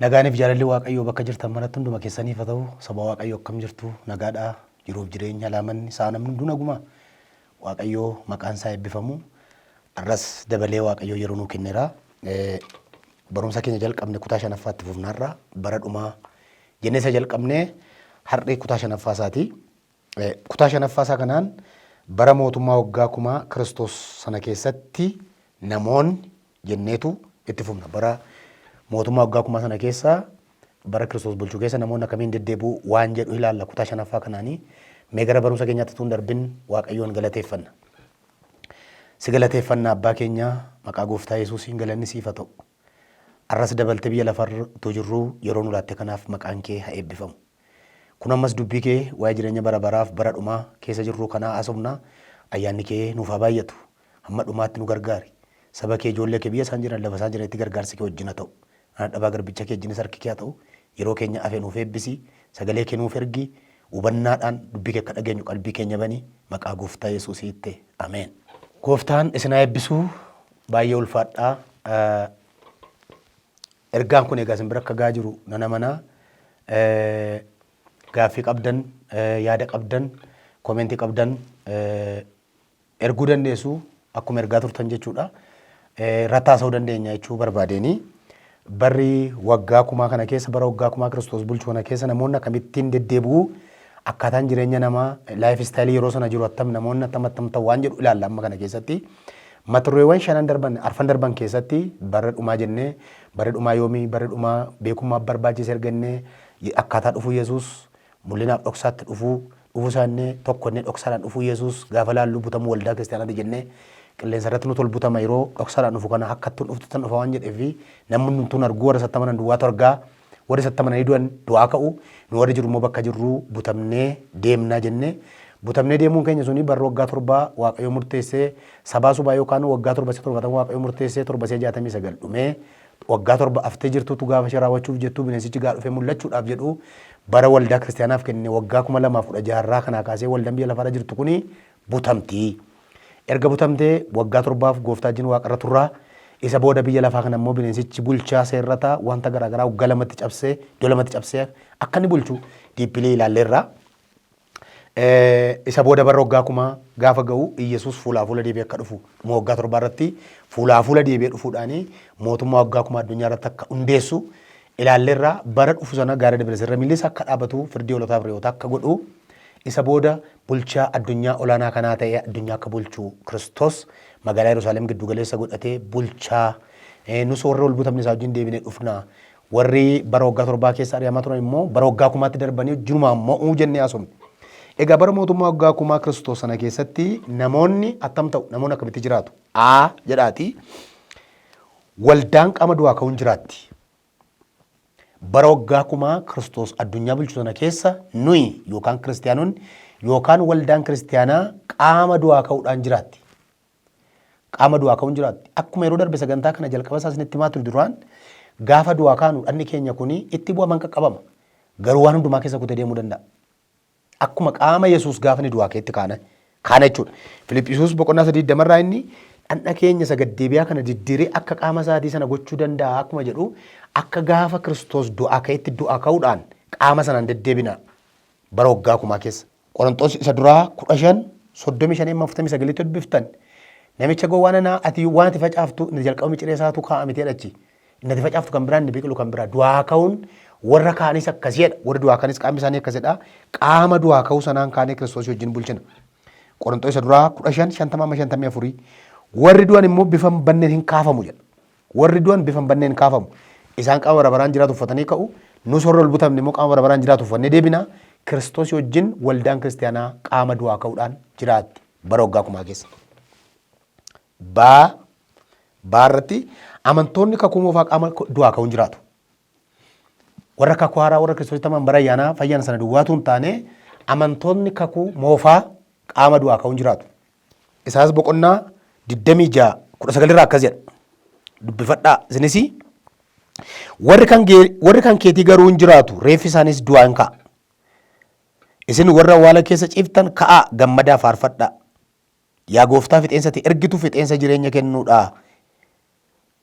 Nagaaniif jaalalli Waaqayyoo bakka jirtan manatti hunduma keessaniif haa ta'u saba Waaqayyoo akkam jirtu nagaadhaa jiruuf jireenya laamanni sa'a namni hunduu nagumaa Waaqayyoo maqaan isaa eebbifamu. Har'as dabalee Waaqayyoo yeroo nuu kennera. Barumsa keenya jalqabne kutaa shanaffaa itti fufna har'a. Bara dhumaa jennee isa jalqabne har'i kutaa shanaffaa isaati. Kutaa shanaffaa isaa kanaan bara mootummaa waggaa kumaa Kiristoos sana keessatti namoonni jenneetu itti fufna. Bara mootummaa waggaa kumaa sana keessa bara Kiristoos bulchu keessa namoonni akkamiin deddeebi'u waan jedhu ilaalla kutaa shanaffaa kanaanii mee gara barumsa keenyaatti tuun darbin Waaqayyoon galateeffanna. Si galateeffanna abbaa keenya maqaa gooftaa Yesuusiin galanni siif haa ta'u. Arras dabaltee biyya lafarra utuu jirruu yeroo nu laatte kanaaf maqaan kee haa eebbifamu. Kun ammas dubbii kee waa'ee jireenya bara baraaf bara dhumaa keessa jirruu kanaa haasofna. Ayyaanni kee nuuf haa baay'atu. Hamma dhumaatti nu gargaari. Saba kee ijoollee kee biyya isaan jiran lafa isaan jiranitti gargaarsi kee wajjin haa ta'u. Ana dhabaa garbicha kee wajjinis harki kee haa ta'u. Yeroo keenya hafe nuuf eebbisi. Sagalee kee nuuf ergi. Hubannaadhaan dubbii kee akka dhageenyu qalbii keenya bani. Maqaa gooftaa Yesuusiitti. Ameen. Gooftaan isin haa eebbisu. Baay'ee ulfaadhaa. Ergaan kun egaa isin bira akka gahaa jiru nan amana. Gaaffii qabdan, yaada qabdan, comment qabdan erguu dandeessu. Akkuma ergaa turtan jechuudha. Irratti haasa'uu dandeenya jechuu barbaadeeni. Barri waggaa kumaa kana keessa, bara waggaa kumaa Kiristoos bulchu kana keessa namoonni akkamittiin deddeebi'u, Akkaataan jireenya namaa, life style yeroo sana jiru attam, namoonni attam attam ta'u waan jedhu ilaalla amma kana keessatti. Mata dureewwan shanan darban, arfan darban keessatti bara dhumaa jennee, bara dhumaa yoomii, bara dhumaa beekummaaf barbaachise erga innee, ye- akkaataa dhufuu Yesuus, mul'inaaf dhoksaatti dhufuu, dhufuu isaa innee, tokko innee dhoksaadhaan dhufuu Yesuus gaafa laallu butamuu waldaa kiristaanaati jennee, qilleensa irratti nutu ol butama yeroo dhoksaadhaan dhufu kana akkattuun dhuftu tan dhufa waan jedhee fi namni hundumtuun arguu warra isatti amanan duwwaatu argaa, Warri isatti amananii du'an du'aa ka'u, nu warri jirru immoo bakka jirru butamnee deemna jenne. Butamnee deemuun keenya suni barri waggaa torbaa Waaqayyo murteesse, sabaa subaa yookaan waggaa torba si'a torbatan Waaqayyo murteesse, torba si'a jaatamii sagal dhumee, waggaa torba haftee jirtuutu gaafa ishee raawwachuuf jettuu bineensichi gaa dhufee mul'achuudhaaf jedhu bara waldaa kiristiyaanaaf kenne waggaa kuma lamaaf kudha jaha irraa kanaa kaasee waldaan biyya lafaarra jirtu kuni butamti. Erga butamtee waggaa torbaaf gooftaa wajjin waaqarra turra. Isa booda biyya lafaa kana immoo bineensichi bulchaa, seerrata, wanta garaa garaa waggaa lamatti cabsee, iddoo lamatti cabsee akka inni bulchu deeply ilaalleerra. Isa booda bara waggaa kumaa gaafa ga'u Iyyasuus fuulaa fuula deebi'ee akka dhufu dhuma waggaa torbaa irratti fuulaa fuula deebi'ee dhufuudhaan mootummaa waggaa kumaa addunyaa irratti akka hundeessu ilaalleerra. Bara dhufu sana gaara Debresirra miilli isaa akka dhaabatu firdii hoolotaaf re'oota akka godhu isa booda Bulchaa addunyaa olaanaa kanaa ta'ee addunyaa akka bulchu Kiristoos magaalaa Yerusaalem giddu galeessa godhatee bulchaa. Eh, Nus warri ol butamne isaa wajjin deebine dhufna. Warri bara waggaa torbaa keessa ari'amaa turan immoo bara waggaa kumaatti darbanii wajjinumaa mo'uu jennee haasofne. Egaa bara mootummaa waggaa kumaa Kiristoos sana keessatti namoonni akkam ta'u? Namoonni akkamitti jiraatu? A jedhaatii waldaan qaama du'aa ka'uun jiraatti. Bara waggaa kumaa Kiristoos addunyaa bulchu sana keessa nuyi yookaan kiristiyaanonni yookaan waldaan kiristiyaanaa qaama du'aa ka'uudhaan jiraatti. Qaama du'aa ka'uun jiraatti. Akkuma yeroo darbe sagantaa kana jalqaba isaa isinitti himaa ture duraan gaafa du'aa kaanu dhagni keenya kun itti bu'aman qaqqabama. Garuu waan hundumaa keessa kutee deemuu danda'a. Akkuma qaama Yesuus gaafa inni du'aa ka'etti kaana kaana jechuudha. Filiphisuus boqonnaa sadii digdama irraa inni dhandha keenya isa gaddeebi'aa kana diddiree akka qaama isaatii sana gochuu danda'a akkuma jedhu akka gaafa Kiristoos du'aa ka'etti du'aa ka'uudhaan qaama sanaan deddeebina bara waggaa kumaa keessa. Qoronxoos isa duraa kudha shan soddomii shan amma afurtamii sagalitti dubbiftan namicha gowwaa nanaa ati waan ati facaaftu inni jalqaba miciree isaatu kaa'a miti jedhachi Innati facaaftu kan biraa, inni biqilu kan biraa. Du'aa ka'uun warra kaanis akkasii jedha. Warri du'aa kanis qaamni isaanii akkasidha. Qaama du'aa ka'uu sanaan kaanee Kiristoosii wajjin bulchina. Qoronxoo isa duraa 15, 50 amma 54. Warri du'an immoo bifa hin banneen hin kaafamu jedha. Warri du'an bifa hin banneen hin kaafamu. Isaan qaama bara baraan jiraatu uffatanii ka'u. Nus warri ol butamne immoo qaama bara baraan jiraatu uffannee deebina. Kiristoosii wajjin waldaan kiristaanaa qaama du'aa ka'uudhaan jiraatti bara waggaa kumaa keessa. B. B irratti amantoonni kakuu moofaa qaama du'aa ka'uun jiraatu. Warra kakuu haaraa warra kiristoositti aman bara ayyaanaa fayyan sana duwwaatu hin taane amantoonni kakuu moofaa qaama du'aa ka'uun jiraatu. Isaas boqonnaa 26 19 irraa akkas jedha. Dubbifadhaa isinis warri kan gee- warri kan keetii garuu hin jiraatu reeffi isaaniis du'aa hin ka'a. Isin warra awwaala keessa ciiftan ka'aa gammadaa faarfadhaa. Yaa Gooftaa fixeensa ati ergitu fixeensa jireenya kennuudha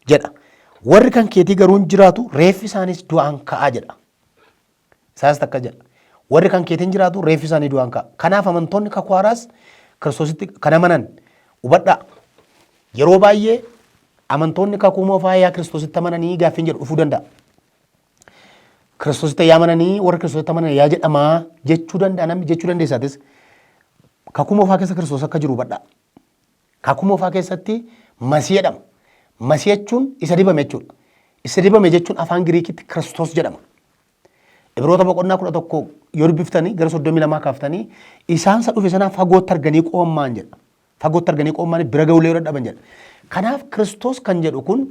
jedha. Warri kan keetii garuu hin jiraatu, reeffi isaaniis du'aan ka'a jedha. Isaayyaas takka jedha. Warri kan keetiin jiraatu reeffi isaanii du'aan ka'a. Kanaaf amantoonni kakuu haaraas kiristoositti kan amanan hubadhaa. Yeroo baay'ee amantoonni kakuu moofaa yaa kiristoositti amananii gaaffiin jedhu dhufuu danda'a. Kiristoositti yaa amananii warra Kiristoositti amanan yaa jedhamaa jechuu danda'a namni jechuu dandeessaatis kakuu moofaa keessa Kiristoos akka jiru hubadhaa. Kakuu moofaa keessatti masii jedhama. Masii jechuun isa dibame jechuudha. Isa dibame jechuun afaan Giriikitti Kiristoos jedhama. Ibroota boqonnaa kudha tokko yoo dubbiftanii gara soddomii lamaa kaaftanii isaan isa dhufe sanaa fagootti arganii qoommaan jedha. Fagootti arganii qoommaanii bira ga'ullee yoo dadhaban jedha. Kanaaf Kiristoos kan jedhu kun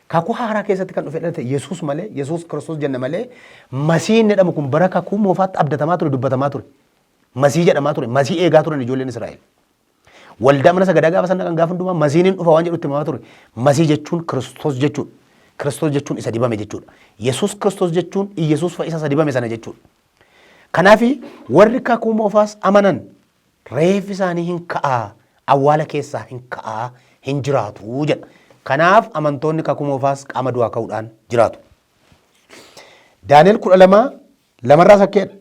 kakuu haaraa keessatti kan dhufe dhalate Yesuus malee, Yesuus Kiristoos jenna malee, Masii inni jedhamu kun bara kakuu moofaatti abdatamaa ture, dubbatamaa ture. Masii jedhamaa ture, Masii eegaa turan ijoolleen Israa'el. Waldaa mana sagadaa gaafa sana kan gaafa hundumaa Masiin hin dhufa waan jedhu itti himamaa ture. Masii jechuun Kiristoos jechuudha. Kiristoos jechuun isa dibame jechuudha. Yesuus Kiristoos jechuun Iyyasuus fa'isaa isa dibame sana jechuudha. Kanaaf warri kakuu moofaas amanan Reeffi isaanii hin ka'a, awwaala keessaa hin ka'a, hin jiraatu jedha. Kanaaf amantoonni kakuu moofaas qaama du'aa ka'uudhaan jiraatu. Daani'el kudha lama lamarraas akka jedha.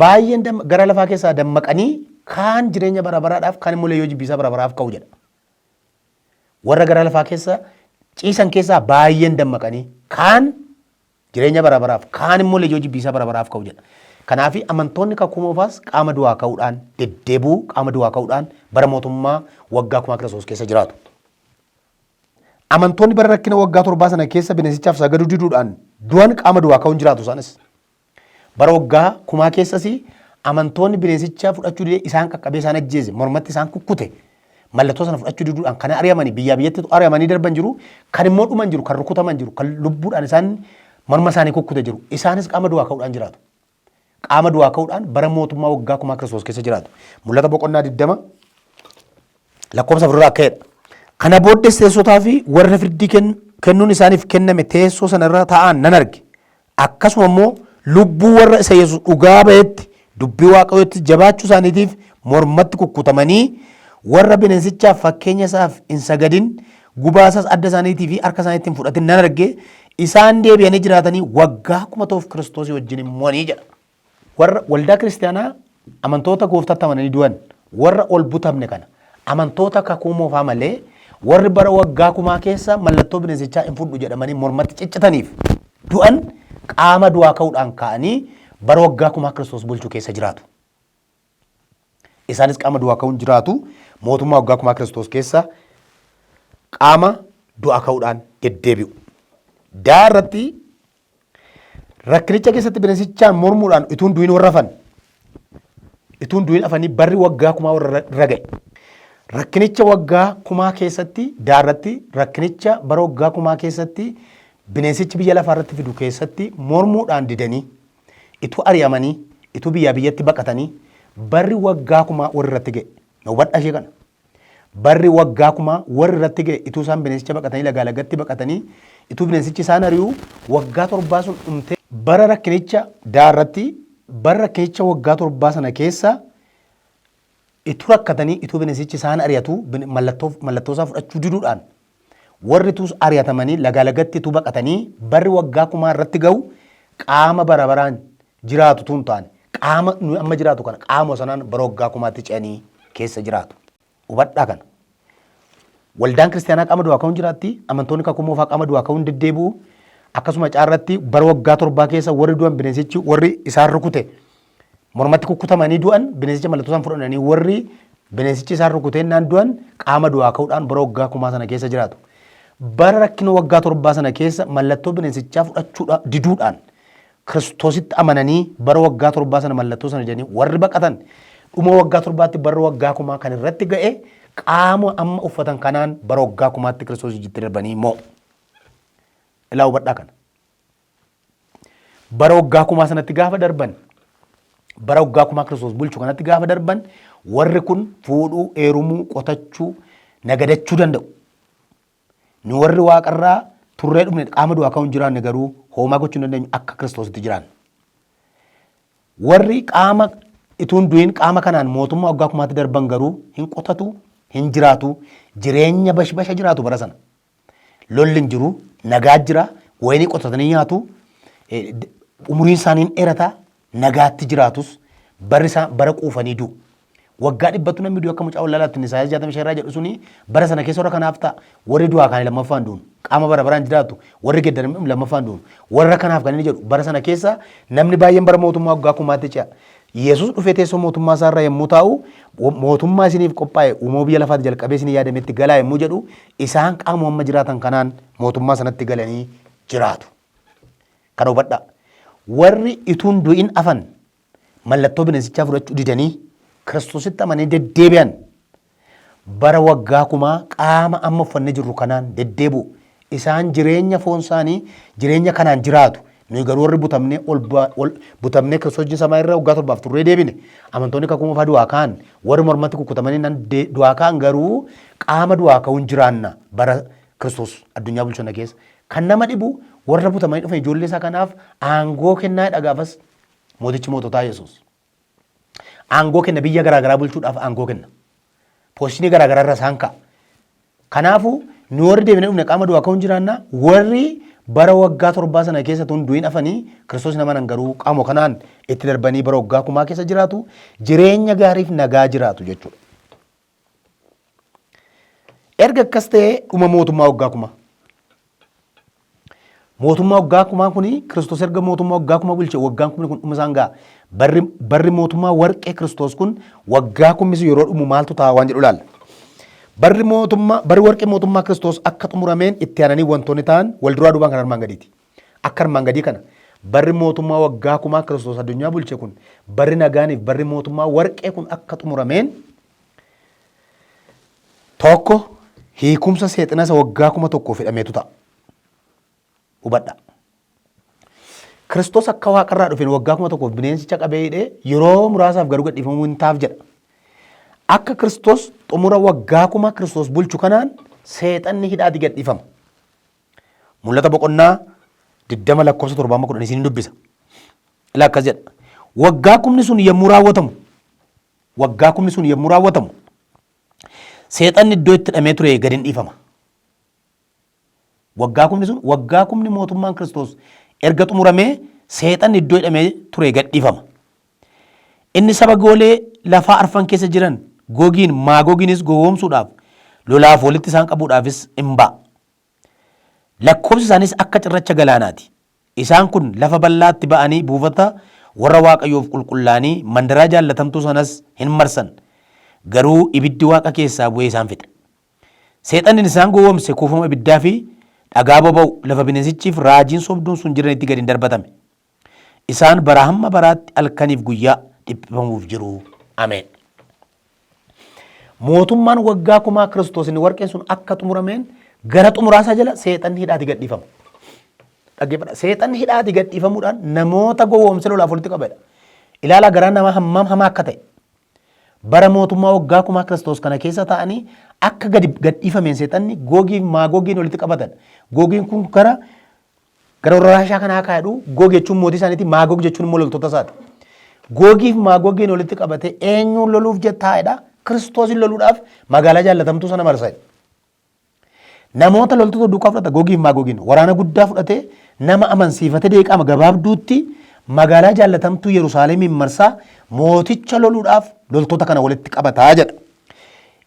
Baay'een gara lafaa keessaa dammaqanii kaan jireenya bara baraadhaaf kaan immoo leeyyoo jibbiisaa bara baraaf ka'u jedha. Warra gara lafaa keessa ciisan keessaa baay'een dammaqanii kaan Jireenya bara baraaf, kaan immoo lejoo jibbiisaa bara baraaf ka'u jedha. Kanaafi amantoonni kakuu moofaas qaama du'aa ka'uudhaan, deddeebi'uu qaama du'aa ka'uudhaan bara mootummaa waggaa kumaa Kiristoos keessa jiraatu. Amantoonni bara rakkina waggaa torbaa sana keessa bineensichaaf sagaduu diduudhaan du'an qaama du'aa ka'uun jiraatu isaanis. Bara waggaa kumaa keessas amantoonni bineensicha fudhachuu dide isaan qaqqabee isaan ajjeese, mormatti isaan kukkute, Mallattoo sana fudhachuu diduudhaan kan ari'amanii biyyaa biyyatti ari'amanii darban jiru, kan immoo dhuman jiru, kan rukutaman jiru, kan lubbuudhaan isaan morma isaanii kukkute jiru. Isaanis qaama du'aa ka'uudhaan jiraatu. Qaama du'aa ka'uudhaan bara mootummaa waggaa kumaa Kiristoos keessa jiraatu. Mul'ata boqonnaa 20 lakkoofsa afur irraa ka'edha. Kana booddees teessotaa fi warra firdii ken- kennuun isaaniif kenname teessoo sana irra taa'an nan arge. akkasuma immoo lubbuu warra isa Yesus dhugaa ba'etti, dubbii Waaqayyoottis jabaachuu isaaniitiif mormatti kukkutamanii, warra bineensichaaf fakkeenya isaaf hin sagadin, gubaa isaas adda isaaniitii fi harka isaaniitti hin fudhatin nan arge, isaan deebi'anii jiraatanii waggaa kuma ta'uuf Kiristoosii wajjin in mo'anii jedha. Warra, waldaa kiristiyaanaa amantoota gooftaatti amananii du'an, warra ol butamne kana. Amantoota kakuu moofaa malee warri bara waggaa kumaa keessa mallattoo bineensichaa hin fudhu jedhamanii mormatti ciccitaniif du'an qaama du'aa ka'uudhaan ka'anii bara waggaa kumaa Kiristoos bulchu keessa jiraatu. Isaanis qaama du'aa ka'uun jiraatu mootummaa waggaa kumaa Kiristoos keessa qaama du'aa ka'uudhaan deddeebi'u. Daa irratti rakkinicha keessatti bineensichaan mormuudhaan ituun du'in warra hafan ituun du'in afanii barri waggaa kumaa warra irra ga'e. Rakkinicha waggaa kumaa keessatti daa irratti rakkinicha bara waggaa kumaa keessatti bineensichi biyya lafaa irratti fidu keessatti mormuudhaan didanii Ituu ari'amanii, ituu biyyaa biyyatti baqatanii barri waggaa kumaa warri irratti ga'e. Na hubadhaa ishee kana. Barri waggaa kumaa warri irratti ga'e ituu isaan bineensicha baqatanii lagaa lagatti baqatanii ituu bineensichi isaan ari'u waggaa torbaa sun dhumtee bara rakkinicha daa irratti bara rakkinicha waggaa torbaa sana keessa Ituu rakkatanii ituu binesichi isaan ari'atuu bin mallattoo mallattoo isaa fudhachuu diduudhaan warri tuus ari'atamanii lagaa lagatti ituu baqatanii barri waggaa kumaa irratti ga'u qaama bara baraan jiraatu tuun taane qaama nuyi amma jiraatu kana qaama sanaan bara waggaa kumaatti ce'anii keessa jiraatu. Hubadhaa kana. Waldaan kiristaanaa qaama du'aa ka'uun jiraatti amantoonni kakuu moofaa qaama du'aa ka'uun deddeebi'u akkasuma caarratti bara waggaa torbaa keessa warri du'an bineensichi warri isaan rukute mormatti kukkutamanii du'an bineensicha mallattoo isaan fudhatanii warri bineensichi isaan rukuteennaan du'an qaama du'aa ka'uudhaan bara waggaa kumaa sana keessa jiraatu. Bara rakkina waggaa torbaa sana keessa mallattoo bineensichaa fudhachuudha diduudhaan Kiristoositti amananii bara waggaa torbaa sana mallattoo sana jedhanii warri baqatan dhuma waggaa torbaatti bara waggaa kumaa kan irratti ga'e qaama amma uffatan kanaan bara waggaa kumaatti Kiristoos ijjitti darbanii immoo ilaa hubadhaa kana. bara waggaa kumaa sanatti gaafa darban bara waggaa kumaa kiristoos bulchu kanatti gaafa darban warri kun fuudhuu, eerumuu, qotachuu, nagadachuu danda'u. Nu warri waaqarraa turree dhufne qaama du'aa ka'uun jiraanne garuu hoomaa gochuu hin dandeenyu akka kiristoositti jiraanne. Warri qaama ituun du'in qaama kanaan mootummaa waggaa kumaatti darban garuu hin qotatu, hin jiraatu, jireenya bashbasha jiraatu bara sana. Lolli hin jiru, nagaa jira, wayinii qotatanii nyaatu, eh, d- umuriin isaanii hin dheerata, nagaatti jiraatus barri isaa bara quufanii du'u. Waggaa dhibbatu namni du'e akka mucaa wallaalaatti Isaayaas 65 irraa jedhu suni bara sana keessa warra kanaaf ta'a. Warri du'aa kaanii lammaffaan du'u. Qaama bara baraan jiraatu warri geddaramni lammaffaan du'u. Warra kanaaf kan inni jedhu bara sana keessa namni baay'een bara mootummaa waggaa kumaatti ce'a. Yesus dhufee teessoo mootummaa isaa irra yommuu taa'u, Mootummaa isiniif qophaa'e uumama biyya lafaati jalqabee isinii yaadametti galaa yommuu jedhu, isaan qaamuma amma jiraatan kanaan mootummaa sanatti galanii jiraatu. Kana hubadhaa. Warri ituun du'in afan mallattoo bineensichaa fudhachuu didanii Kiristositti amananii deddeebi'an Bara waggaa kumaa qaama amma uffanne jirru kanaan deddeebi'u. Isaan jireenya foon isaanii jireenya kanaan jiraatu. Nuyi garuu warri butamnee ol ba- ol- butamnee Kiristoos wajjin samaa irra waggaa torbaaf turree deebine. Amantoonni kakuu moofaa du'aa ka'an warri mormatti kukkutamanii nan de- du'aa ka'an garuu qaama du'aa ka'uun jiraanna bara Kiristoos addunyaa bulchu sana keessa. Kan nama dhibu warra butamanii dhufan ijoollee isaa kanaaf aangoo kennaa jedha gaafas mootichi moototaa Yesuus. Aangoo kenna biyya garaagaraa bulchuudhaaf aangoo kenna. Poostinii garaagaraa irra isaan ka'a. Kanaafuu nu warri deebinee dhufne qaama du'aa ka'uun jiraanna warri bara waggaa torbaa sana keessa tun du'in afanii kiristoos namanan garuu qaama kanaan itti darbanii bara waggaa kumaa keessa jiraatu jireenya gaariif nagaa jiraatu jechuudha. Erga akkas ta'ee dhuma mootummaa waggaa kumaa. Mootummaa waggaa kumaa kun Kiristoos erga mootummaa waggaa kumaa bulche waggaan kumni kun dhuma isaan ga'a. Barri, barri mootummaa warqee Kiristoos kun waggaa kumni sun yeroo dhumu maaltu ta'a waan jedhu ilaalla. Barri mootummaa, barri warqee mootummaa Kiristoos akka xumurameen itti aananii wantoonni ta'an wal duraa duubaan kan armaan gadiiti. Akka armaan gadii kana, barri mootummaa waggaa kumaa Kiristoos addunyaa bulche kun, barri nagaaniif barri mootummaa warqee kun akka xumurameen tokko hiikumsa seexina isa waggaa kuma tokkoof hidhameetu ta'a. Hubadhaa. Kiristoos akka waaqarraa dhufeen waggaa kuma tokkoof bineensicha qabee hidhee yeroo muraasaaf garuu gadhiifamuu hin taaf jedha. Akka Kiristoos xumura waggaa kuma Kiristoos bulchu kanaan seexanni hidhaati gadhiifama. Mul'ata boqonnaa 20 lakkoofsa 7 amma 10 isin dubbisa. Ila akkas jedha. Waggaa kumni sun yommuu raawwatamu waggaa kumni sun yommuu raawwatamu seexanni iddoo itti hidhamee ture gad hin dhiifama. Waggaa kumni sun waggaa kumni mootummaan Kiristoos erga xumuramee seexanni iddoo hidhamee ture gad dhiifama. Inni saba goolee lafaa arfan keessa jiran gogiin maagogiinis gowwoomsuudhaaf lolaaf walitti isaan qabuudhaafis in ba'a. Lakkoofsi isaaniis akka cirracha galaanaa ti. Isaan kun lafa bal'aatti ba'anii buufata warra Waaqayyoof qulqullaa'anii mandaraa jaallatamtuu sanas hin marsan, garuu ibiddi waaqa keessaa bu'ee isaan fixe. Seexanni isaan gowwoomse kuufama ibiddaa fi dhagaa boba'u lafa bineensichii fi raajiin sobduun sun jiranitti gad in darbatame. Isaan baraa hamma baraatti halkaniif guyyaa dhiphifamuuf jiru. Ameen. Mootummaan waggaa kumaa Kiristoos inni warqeen sun akka xumurameen gara xumuraasaa jala seexanni hidhaati gadhiifama. Dhaggeeffadha. Seexanni hidhaati gadhiifamuudhaan namoota gowwoomsa lolaaf walitti qabedha. Ilaalaa garaa namaa hammam hamaa akka ta'e. Bara mootummaa waggaa kumaa Kiristoos kana keessa ta'anii akka gadi gadhiifameen seexanni googiif maagoogiin walitti qabatan. Googiin kun gara Gara warra Raashaa kanaa kaa jedhu Goog jechuun mootii isaaniiti, Maagoog jechuun immoo loltoota isaati. Googiif Maagogiin walitti qabatee eenyuun loluuf jettaa jedha, Kiristoosin loluudhaaf magaalaa jaallatamtuu sana marsa jedha. Namoota loltoota duukaa fudhata Googiif Maagogiin waraana guddaa fudhatee nama amansiifate deeqaama gabaabduutti magaalaa jaallatamtuu Yerusaalemiin marsaa mooticha loluudhaaf loltoota kana walitti qabataa jedha.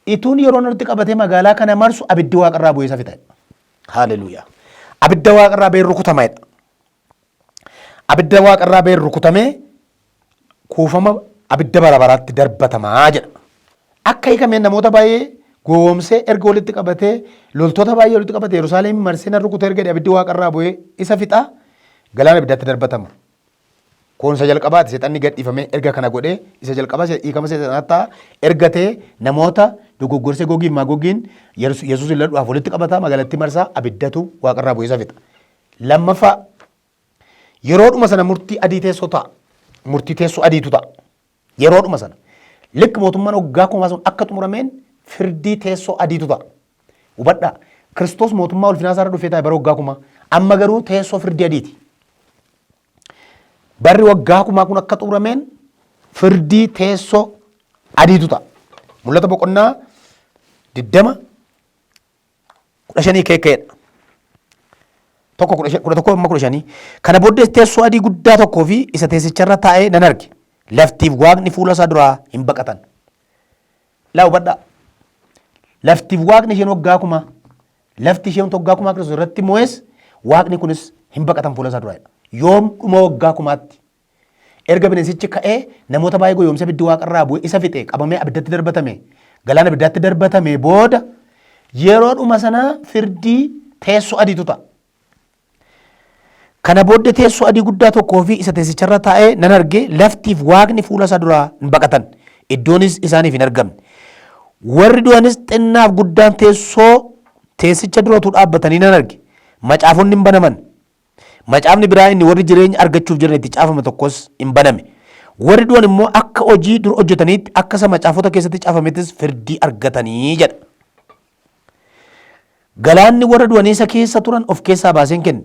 Ituun yeroon walitti qabatee magaalaa kana marsu abiddi waaqarraa bu'ee isa fixa. Hallelujah. Abidda waaqa irraa ba'een rukutama jedha. Abidda waaqa irraa ba'een rukutamee kuufama abidda bara baraatti darbatamaa jedha. Akka hiikameen namoota baay'ee gowwoomsee erga walitti qabatee loltoota baay'ee walitti qabatee Yerusaalem marsee nan rukuta erga jedhe abiddi waaqa irraa bu'ee isa fixaa galaana abiddaatti darbatama. Kun isa jalqabaati seexanni gad dhiifamee erga kana godhee isa jalqabaa se- hiikama seexanaa ta'a erga ta'e namoota dogoggorsee gogiin maagogiin Yesus- yesuusin ladhuudhaaf walitti qabata magaalattii marsaa abiddatu waaqarraa bu'ee isa fixa lammaffaa yeroodhuma sana murtii adii teessoo ta'a murtii teessoo adiitu ta'a Yeroodhuma sana, likk mootummaan waggaa kumaa sun akka xumurameen firdii teessoo adiitu ta'a. Hubadhaa, Kiristoos mootummaa ulfinaa isaarra dhufee taa'e bara waggaa kumaa. Amma garuu teessoo firdii adiiti. Barri waggaa kumaa kun akka xumurameen firdii teessoo adiitu ta'a. Mul'ata boqonnaa 20 kudha shanii KK'dha. Tokko kudha shan- kudha tokko amma kudha shanii. Kana booddees teessoo adii guddaa tokkoo fi isa teessicharra taa'ee nan arge. Laftiif waaqni fuula isaa duraa hin baqatan. Laa hubadhaa. Laftiif waaqni isheen waggaa kumaa. Lafti isheen waggaa kumaa Kiristoos irratti moo'es waaqni kunis hin baqatan fuula isaa duraa. Yoom dhuma waggaa kumaatti Erga bineensichi ka'ee namoota baay'ee goyoomsee abiddi waaqa irraa bu'ee isa fixe qabamee abiddatti darbatame galaana abiddaatti darbatame booda yeroo dhuma sana firdii teessoo adiitu ta'a. Kana booddee teessoo adii guddaa tokkoo fi isa teessicharra taa'ee nan arge laftiif waaqni fuula isaa duraa hin baqatan iddoonis isaaniif hin argamne. Warri du'anis xinnaaf guddaan teessoo teessicha duratu dhaabbatanii nan arge. Macaafonni hin banaman. Macaafni biraa inni warri jireenya argachuuf jiran itti caafame tokkos in baname. Warri du'an immoo akka hojii dur hojjetaniitti akka isa macaafota keessatti caafamettis firdii argatanii jedha. Galaanni warra du'anii isa keessa turan of keessaa baaseen kenne.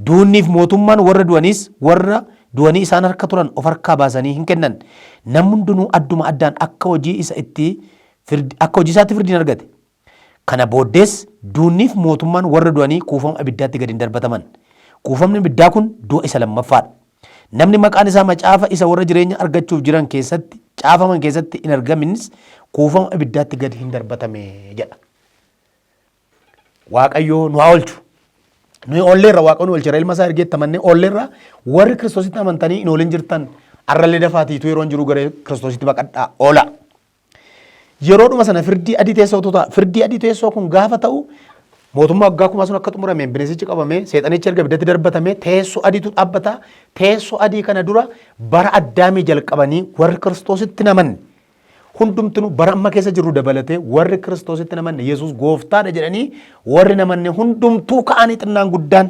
Duunniif mootummaan warra du'aniis warra du'anii isaan harka turan of harkaa baasanii hin kennan. Namni hundinuu adduma addaan akka hojii isa itti akka hojii isaatti firdiin argate. Kana booddees duunniif mootummaan warra du'anii kuufama abiddaatti gad in darbataman. Kuufamni abiddaa kun du'a isa lammaffaa dha. Namni maqaan isaa macaafa isa warra jireenya argachuuf jiran keessatti caafaman keessatti in argaminnis kuufama abiddaatti gad hin darbatame jedha. Waaqayyoo nu haa oolchu. Nuyi oolleerra Waaqayyoon oolcheera ilma isaa ergeetti amannee oolleerra warri kiristoositti amantanii hin oolin jirtan arrallee dafaatiitu yeroon jiru gara kiristoositti baqadhaa oola. Yeroodhuma sana firdii adii teessootu ta'a. Firdii adii teessoo kun gaafa ta'u mootummaa waggaa kumaa sun akka xumurameen bineensichi qabamee seexanichi erga ibiddatti darbatamee teessoo adiitu dhaabbata. Teessoo adii kana dura bara addaamii jalqabanii warri kiristoositti namanne hundumtinu bara amma keessa jirru dabalatee warri kiristoositti namanne yesus gooftaadha jedhanii warri namanne hundumtuu ka'anii xinnaan guddaan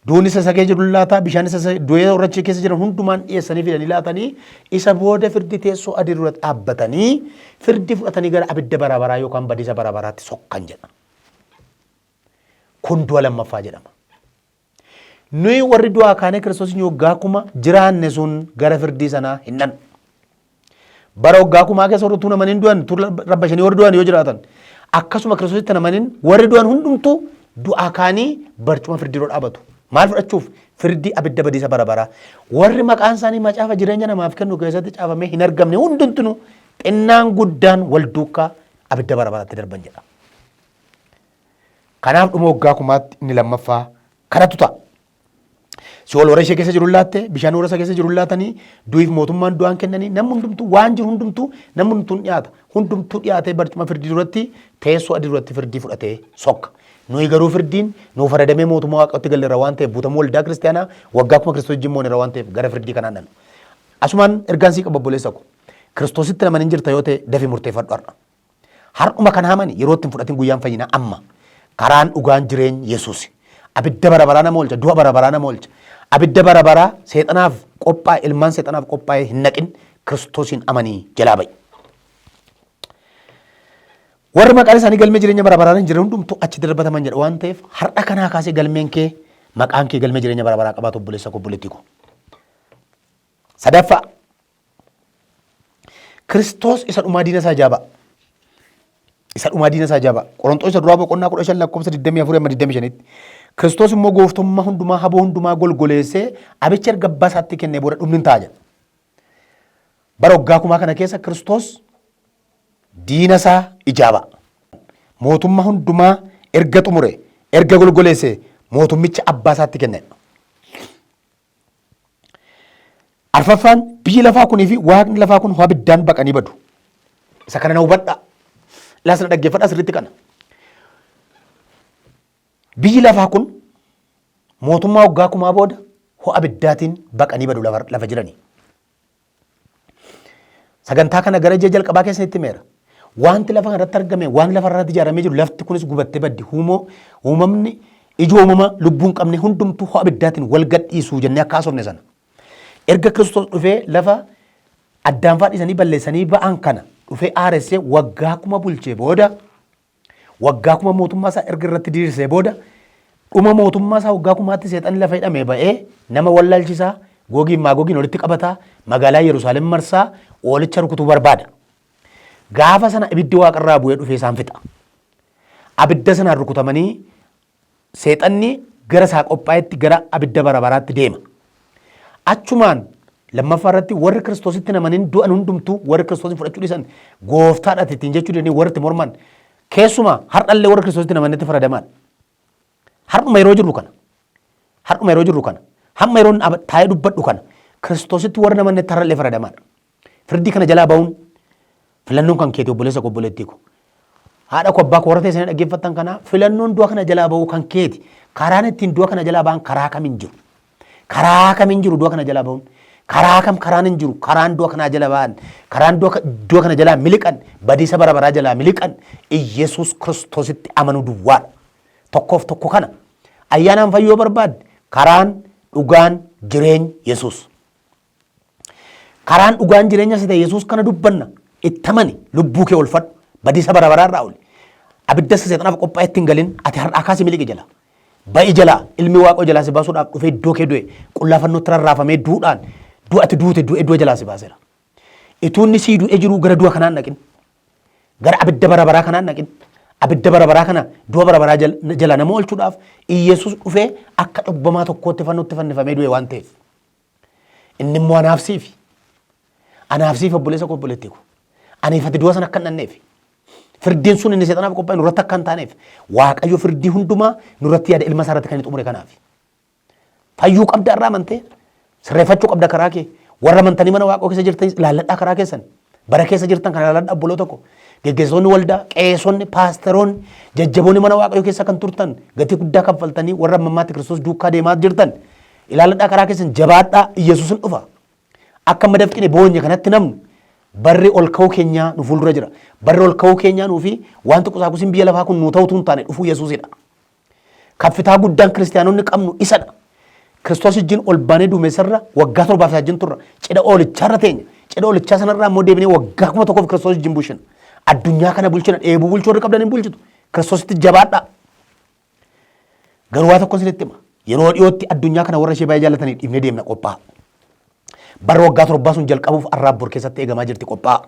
Duuni sasagee jiru ni laata, bishaani sasagee du'ee warra achi keessa jiran hundumaan dhiyeessanii fida ni laatanii, isa booda firdi teessoo adii dura dhaabbatanii firdi fudhatanii gara abidda bara baraa yookaan badiisa bara baraatti sokkan jedha. Kun du'a lammaffaa jedhama. Nuyi warri du'aa kaanee Kiristoos hin hoggaa akkuma jiraanne sun gara firdii sanaa hin dhannu. Bara waggaa kumaa keessa warri utuu namaniin du'an utuu rabbashanii warri du'an yoo jiraatan akkasuma kiristoositti namaniin warri du'an hundumtuu du'aa kaanii barcuma firdii dura dhaabatu. Maal fudhachuuf? Firdii abidda badiisa bara baraa. Warri maqaan isaanii macaafa jireenya namaaf kennu keessatti caafamee hin argamne hundumtuu xinnaan guddaan wal duukaa abidda bara baraatti darban jedha. Kanaaf dhuma waggaa kumaatti inni lammaffaa kanatu ta'a. Si'ool warra ishee keessa jiru laatte, bishaan warra isa keessa jiru laatanii, du'iif mootummaan du'aan kennanii, namni hundumtuu waan jiru hundumtuu namni hundumtuu dhiyaata. Hundumtuu dhiyaatee barcuma firdii duratti teessoo adii duratti firdii fudhatee sokka. Nuyi garuu firdiin nuuf faradamee mootummaa waaqatti galleera waan ta'eef buutamuu waldaa kiristaanaa waggaa kuma kiristoos jimmoonera waan ta'eef gara firdii kanaan dhala. Asumaan ergaan sii qabba obboleessa ko. Kiristoositti namani hin jirta yoo ta'e dafi murteeffadhu har'a. Har'uma kan haamani yeroo itti hin fudhatin guyyaan fayyinaa amma. Karaan dhugaan jireeny Yesuusi. Abidda bara baraa nama oolcha, du'a bara baraa nama oolcha. Abidda bara baraa seexanaaf qophaa'e, ilmaan seexanaaf qophaa'e hin naqin Kiristoosiin amanii jalaa ba'i. Warri maqaan isaanii galmee jireenya bara baraan hin jirre hundumtuu achi darbataman jedha waan ta'eef har'a kanaa kaasee galmeen kee maqaan kee galmee jireenya bara baraa qabaatu obboleessa koo obboleettii koo. Sadaffaa Kiristoos isa dhumaa diina isaa jaabaa. Isa dhumaa diina isaa jaabaa. Qorontoos isa duraa boqonnaa kudha shan lakkoofsa digdamii afurii amma digdamii shanitti. Kiristoos immoo gooftummaa hundumaa haboo hundumaa golgoleessee abicha erga abbaa isaatti kennee booda dhumni hin ta'a jedha. Bara waggaa kumaa kana keessa Kiristoos diina isaa ijaaba. Mootummaa hundumaa erga xumure erga golgoleesse mootummicha abbaa isaatti kennedha. Arfaffaan biyyi lafaa kunii fi waaqni lafaa kun ho'a biddaan baqanii badu. Isa kana na hubadhaa. Ilaas na dhaggeeffadhaa sirriitti kana. Biyyi lafaa kun mootummaa waggaa kumaa booda ho'a biddaatiin baqanii badu lafa, lafa jiranii. Sagantaa kana gara ji'a jalqabaa keessa itti meera. Wanti lafa kanarratti argame, waan lafa irratti ijaaramee jiru, lafti kunis gubattee baddi. Huumoo uumamni ijoo uumama lubbuun qabne hundumtuu ho'a abiddaatiin wal gadhiisu jennee akka haasofne sana. Erga Kiristoos dhufee lafa addaanfaa dhiisanii balleessanii ba'an kana dhufee aaressee waggaa kuma bulchee booda Waggaa kuma mootummaa isaa erga irratti diriirsee booda dhuma mootummaa isaa waggaa kumaatti seexanni lafa hidhamee ba'ee nama wallaalchisaa googiin maagogiin walitti qabataa magaalaa Yerusaalem marsaa oolicha rukutuu barbaada. Gaafa sana ibiddi waaqarraa bu'ee dhufee isaan fixa. Abidda sanaan rukutamanii Seexanni gara isaa qophaa'etti gara abidda bara baraatti deema. Achumaan lammaffaa irratti warri Kiristoositti hin amanin du'an hundumtuu warri Kiristoosin fudhachuu dhiisan gooftaadhaati ittiin jechuu didanii warri itti morman keessumaa har'allee warri Kiristoositti hin amanetti faradamaadha. Har'uma yeroo jirru kana har'uma yeroo jirru kana hamma yeroon ab- taa'ee dubbadhu kana Kiristoositti warri hin amannetti har'allee faradamaadha. Firdii kana jalaa ba'uun filannoon kan keeti obboleessa koo obboleettii koo. Haadha koo abbaa koo warra teessanii dhaggeeffattan kana filannoon du'a kana jalaa ba'uu kan keeti. Karaan ittiin du'a kana jalaa ba'an karaa kam hin jiru. Karaa kam hin jiru du'a kana jalaa ba'uun. Karaa kam karaan hin jiru karaan du'a kanaa jala ba'an. Karaan du'a ka- du'a kana jalaa miliqan badiisa bara baraa jalaa miliqan Iyyasuus Kiristoositti amanuu duwwaadha. Tokkoof tokko kana ayyaanaan fayyoo barbaadde karaan dhugaan jireenyi Yesuus. Karaan dhugaan jireenya isa ta'e Yesuus kana dubbanna. Itti amani lubbuu kee olfadhu. Badiisa bara baraa irraa oli. Abidda isa seexanaaf qophaa'e itti hin galin. Ati har'aa kaasi miliqi jala. Ba'i jala ilmi waaqoo jalaa si baasuudhaaf dhufee iddoo kee du'e qullaafannootti rarraafamee duudhaan du'a ati duute du'e du'a jalaa si baaseera. Ituu inni sii du'e jiruu gara du'a kanaan dhaqin. Gara abidda bara baraa kanaan dhaqin. Abidda bara baraa kana du'a bara baraa jal- jalaa nama oolchuudhaaf Iyyasuus dhufee akka cubbamaa tokkootti fannootti fannifamee du'e waan ta'eef. Inni immoo anaaf siifi. Anaaf siifi obboleessa koo obboleettii koo. Aniif ati du'a sana akka hin dhanneef. Firdiin sun inni seexanaaf qophaa'e nurratti akka hin taaneef. Waaqayyo firdii hundumaa nurratti yaada ilma isaa irratti kan inni xumure kanaaf. Fayyuu qabda irraa amantee sirreeffachuu qabda karaa kee. Warra amantanii mana waaqoo keessa jirtanis ilaalladhaa karaa keessan. Bara keessa jirtan kana ilaaladha obboloota koo. Geggeessitoonni waldaa, qeesonni, paasteroonni, jajjaboonni mana waaqayyoo keessa kan turtan gatii guddaa kaffaltanii warra ammammaatti Kiristoos duukaa deemaa jirtan ilaaladhaa karaa keessan jabaadhaa Iyyasuusin dhufa. Akka amma dafqine boonye kanatti namnu barri ol ka'uu keenyaa nu fuuldura jira. Barri ol ka'uu keenyaa nuufi wanti qusaaqusiin biyya lafaa kun nuu ta'utu hin taane dhufuu Yesuusidha. Kaffitaa guddaan kiristiyaanonni qabnu isadha. Kiristoos wajjin ol baanee duumessarra waggaa torbaaf isaa wajjin turra. Cidha oolicharra teenya. Cidha oolichaa sanarraa immoo deebinee waggaa kuma tokkoof Kiristoos wajjin bulchina. Addunyaa kana bulchina. Dheebuu bulchuu warri qabdan hin bulchitu. Kiristoositti jabaadhaa. Garuu waa tokko isinitti hima. Yeroo dhiyootti addunyaa kana warra ishee baay'ee jaallatanii dhiifnee deemna qophaa'aa. Bara waggaa torbaa sun jalqabuuf arraab bor keessatti eegamaa jirti qophaa'aa.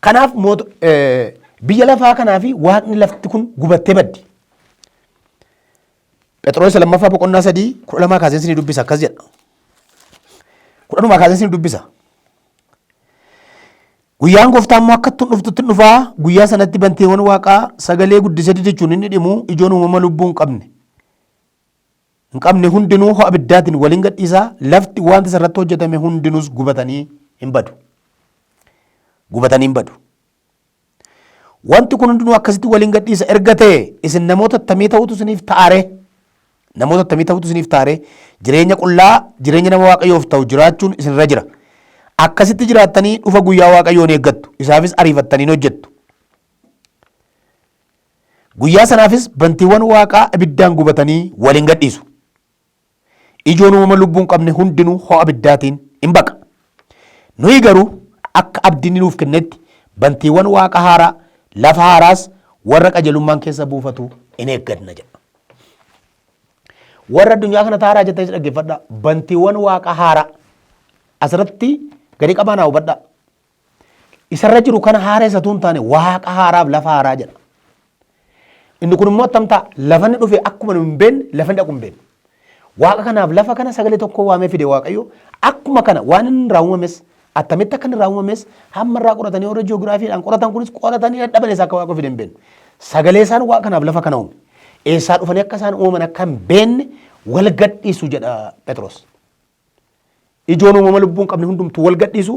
Kanaaf mootu- eh, biyya lafaa kanaa fi waaqni lafti kun gubattee baddi. Phexros isa lammaffaa boqonnaa sadii kudha lamaa kaasee isinii dubbisa akkas jedha. Kudha lamaa kaasee isinii dubbisa. Guyyaan gooftaa immoo akka ittiin dhuftutti hin dhufaa guyyaa sanatti banteewwan waaqaa sagalee guddisee jechuun inni dhimu ijoon uumama lubbuu hin qabne. hin qabne hundinuu ho'a ibiddaatiin waliin gadhiisa. Lafti wanti isarratti hojjetame hundinuus gubatanii hin badu. Gubatanii hin badu. Wanti kun hundinuu akkasitti waliin gadhiisa erga ta'e isin namoota attamii ta'utu isiniif taare. Namoota attamii ta'utu isiniif taare. Jireenya qullaa jireenya nama waaqayyoof ta'u jiraachuun isinirra jira. Akkasitti jiraattanii dhufa guyyaa waaqayyoon eeggattu. Isaafis ariifattaniin hojjettu. Guyyaa sanaafis bantiiwwan waaqaa ibiddaan gubatanii wal in gadhiisu. Ijoon uumama lubbuu hin qabne hundinuu ho'a ibiddaatiin in baqa. Nuyi garuu akka abdi inni nuuf kennetti bantiiwwan waaqa haaraa, lafa haaraas warra qajelummaan keessa buufatu in eegganna jedha. Warra addunyaa kana taaraa jettanis dhaggeeffadhaa. Bantiiwwan waaqa haaraa asirratti gadi qabaanaa hubadhaa. Isa irra jiru kana haaressa utuu hin taane waaqa haaraaf lafa haaraa jedha. Inni kun immoo attam ta'a? Lafa inni dhufe akkuma nu hin beekne lafa inni dhaqu hin beekne. Waaqa kanaaf lafa kana sagalee tokko waamee fide Waaqayyo akkuma kana waan inni irraa uumames attamitti akka inni irraa uumames hamma irraa qoratanii warra ji'oogiraafiidhaan qoratan kunis qoratanii dadhaban eessaa akka Waaqa fide hin beekne. Sagalee isaan waaqa kanaaf lafa kana uume. Eessaa dhufanii akka isaan uumaman akka hin beekne wal gadhiisu jedha Phexros. Ijoon uumama lubbuu hin qabne hundumtuu wal gadhiisu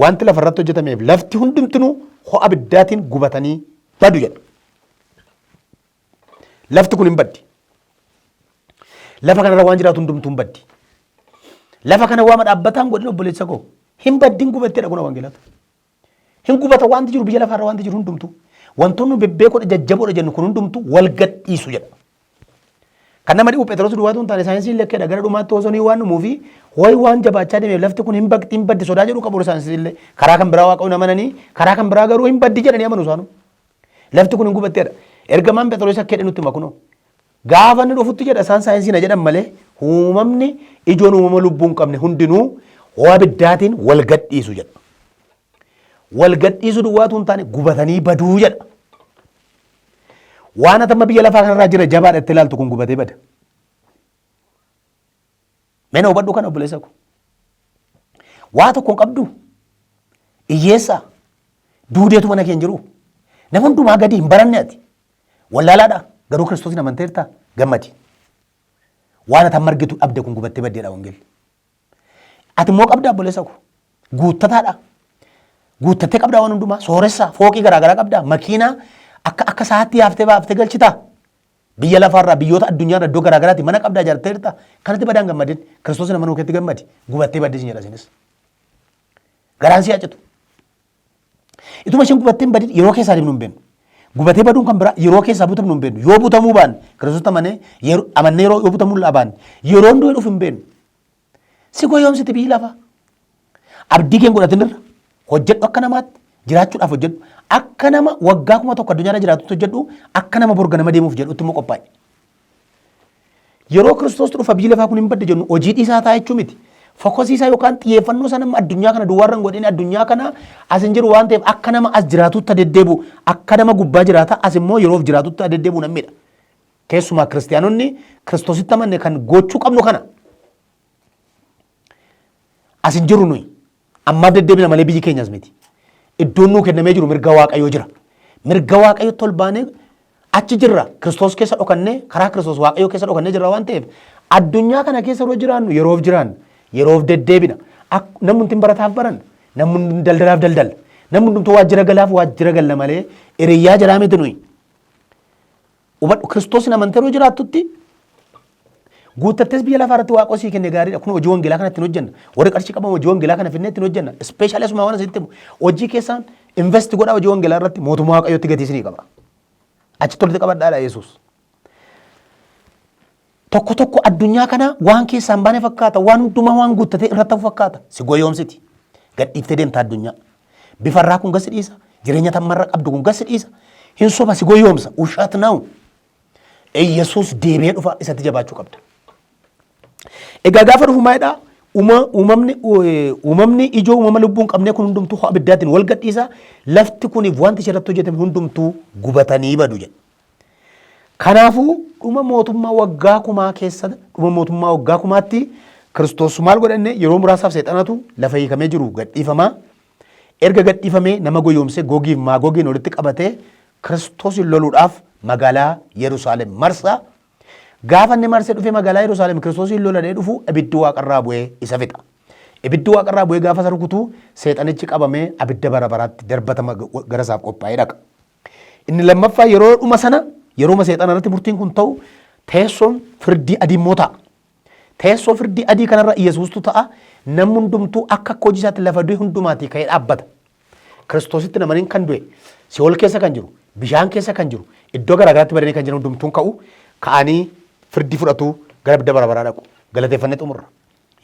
wanti lafa irratti hojjetameef lafti hundumtinuu ho'a abiddaatiin gubatanii badu jedha. Lafti kun hin baddi. Lafa kanarra waan jiraatu hundumtuu hin baddi. Lafa kana waama dhaabbataan godhin obboleessa koo hin baddin gubattedha kun wangeelatu. Hin gubata wanti jiru biyya lafaarra wanti jiru hundumtu wantoonni bebbeekoodha jajjaboodha jennu kun hundumtu wal gadhiisu jedha. Kan nama dhibu Phexros duwwaatu hin taane saayinsiin lekkeedha gara dhumaatti osoo waan dhumuu fi wayi waan jabaachaa deemeef lafti kun hin bakti hin baddi sodaa jedhu qabu saayinsiin illee karaa kan biraa waaqayyoon amananii karaa kan biraa garuu hin baddi jedhanii amanu isaanu. Lafti kun hin gubatteedha. Ergamaan Phexros akka jedhe nutti makunoo. Gaafa inni dhufutti jedha isaan saayinsiina jedhan malee uumamni ijoon uumama lubbuu hin qabne hundinuu ho'a abiddaatiin wal gadhiisu jedha. Wal gadhiisu duwwaatu hin taane gubatanii baduu jedha. Waan atamma biyya lafaa kanarraa jira jabaadha itti ilaaltu kun gubatee bada. Mee na hubadhu kana obboleessa ko. Waa tokko hin qabdu. Iyyeessaa. Duudeetu mana kee hin jiru. Nama hundumaa gadi hin baranne ati. Wallaalaadha. Garuu Kiristoosiin amanteerta gammadi. Waan ati amma argitu dhabde kun gubattee baddeedha wangeelli. Ati immoo qabda obboleessa ko. Guuttataadha. Guuttattee qabdaa waan hundumaa. Sooressaa. Fooqii garaagaraa qabdaa. Makiinaa akka akka saatti yaaftee baaftee galchitaa. Biyya lafaarraa biyyoota addunyaarra iddoo garaa garaatti mana qabdaa ijaartee jirta. Kanatti badaan gammadin. Kiristoos nama nuukeetti gammadi. Gubattee baddee sin jedha isinis. Garaan si hacitu. Ituma isheen gubattee hin badin yeroo keessaa deemnu hin beeknu. Gubatee baduun kan biraa yeroo keessaa butamnu hin beeknu. Yoo butamuu baanne Kiristoos amanee yeroo amannee yeroo yoo butamuu baanne yeroon du'e dhufu hin beeknu. Si goyoomsiti biyyi lafaa. Abdii keen godhatin irra hojjedhu akka namaatti jiraachuudhaaf hojjedhu. Akka nama waggaa kuma tokko addunyaarra jiraatutti hojjedhu akka nama borga nama deemuuf jedhutti immoo qophaa'i. Yeroo Kiristoostu dhufa biyyi lafaa kun hin badde jennu hojii dhiisaa ta'a jechuu miti. Fokosii isaa yookaan xiyyeeffannoo isaa nama addunyaa kana duwwaarra hin godhin addunyaa kana as hin jiru waan ta'eef akka nama as jiraatutti deddeebi'u akka nama gubbaa jiraata as immoo yeroof jiraatutti deddeebi'u namidha. Keessumaa kiristiyaanonni Kiristoositti amanne kan gochuu qabnu kana. As hin jirru nuyi. Ammaa deddeebina malee biyyi keenyas miti. Iddoon nuu kennamee jiru mirga waaqayyoo jira. Mirga waaqayyootti ol baanee achi jirra. Kiristoos keessa dhokannee karaa Kiristoos waaqayyoo keessa dhokannee jirra waan ta'eef addunyaa kana keessa yeroo jiraannu yeroof jiraanna. Yeroof deddeebina. Ak- Namni hundumti barataaf baranna. Namni hundumti daldalaaf daldala. Namni hundumti waajjira galaaf waajjira galla malee hiriyyaa jiraa miti nuyi. Hubadhu Kiristoosiin amantee yeroo jiraattutti guuttattees biyya lafaa irratti waaqoo sii kenne gaariidha. Kun hojii wangeelaa kana ittiin hojjenna. Warri qarshii qaban hojii wangeelaa kana finnee ittiin hojjenna. Ispeeshaalii asuma waan asitti himu. Hojii keessaan invest godhaa hojii wangeelaa irratti mootummaa waaqayyootti gatii isinii qaba. Achitti walitti qabadhaadha Yesuus. Tokko tokko addunyaa kanaa waan keessaa hin baane fakkaata. Waan hundumaa waan guuttatee irratti hafu fakkaata. Si goyoomsiti. Gad dhiiftee deemta addunyaa. Bifa irraa kun gasi dhiisa. Jireenya tammarra qabdu kun gasi dhiisa. Hin soba si goyoomsa. Ushaat naawu. Iyyasuus deebi'ee dhufa isatti jabaachuu qabda. Egaa gaafa dhufu maalidhaa? Uumamni uumamni ijoo uumama lubbuu hin qabnee kun hundumtuu abiddaatiin wal gadhiisa. Lafti kuniif wanti ishee irratti hojjetame hundumtuu gubatanii badu jedha. Kanaafuu dhuma mootummaa waggaa kumaa keessa dhuma mootummaa waggaa kumaatti Kiristoos maal godhanne yeroo muraasaaf seexanatu lafa hiikamee jiru gadhiifama. Erga gadhiifamee nama goyoomsee gogiif maagogiin walitti qabatee Kiristoosin loluudhaaf magaalaa Yerusaalem marsa. Gaafa inni marsee dhufee magaalaa Yerusaalem Kiristoosiin loladhee dhufu ibiddi waaqarraa bu'ee isa fixa. Ibiddi waaqarraa bu'ee gaafa isa rukutu seexanichi qabamee abidda bara baraatti darbatama gara isaaf qophaa'ee dhaqa. Inni lammaffaa yeroo dhuma sana yerooma seexana irratti murtiin kun ta'u teessoon firdii adii immoo ta'a. Teessoo firdii adii kanarra Yesuustu ta'a namni hundumtuu akka akka hojii isaatti lafa du'e hundumaatii ka'ee dhaabbata. Kiristoositti namaniin kan du'e si'ool keessa kan jiru bishaan keessa kan jiru iddoo garaagaraatti badanii kan jiran hundumtuun ka'u ka'anii firdii fudhatu gara bidda bara baraa dhaqu galateeffannee xumurra.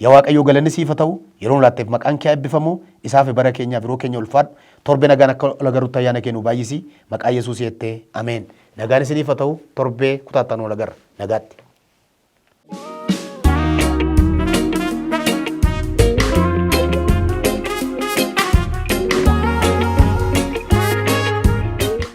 Ya waaqayyoo galanni siif ha ta'u yeroo nu laatteef maqaan kee ha ebbifamu isaafi bara keenyaaf yeroo keenya ulfaadhu torbe nagaan akka ol agarrutti ayyaana kee nuu baay'isi maqaa yesuus yette ameen nagaan isiniif ha ta'u torbee kutaa itti aanu ol agarra nagaatti.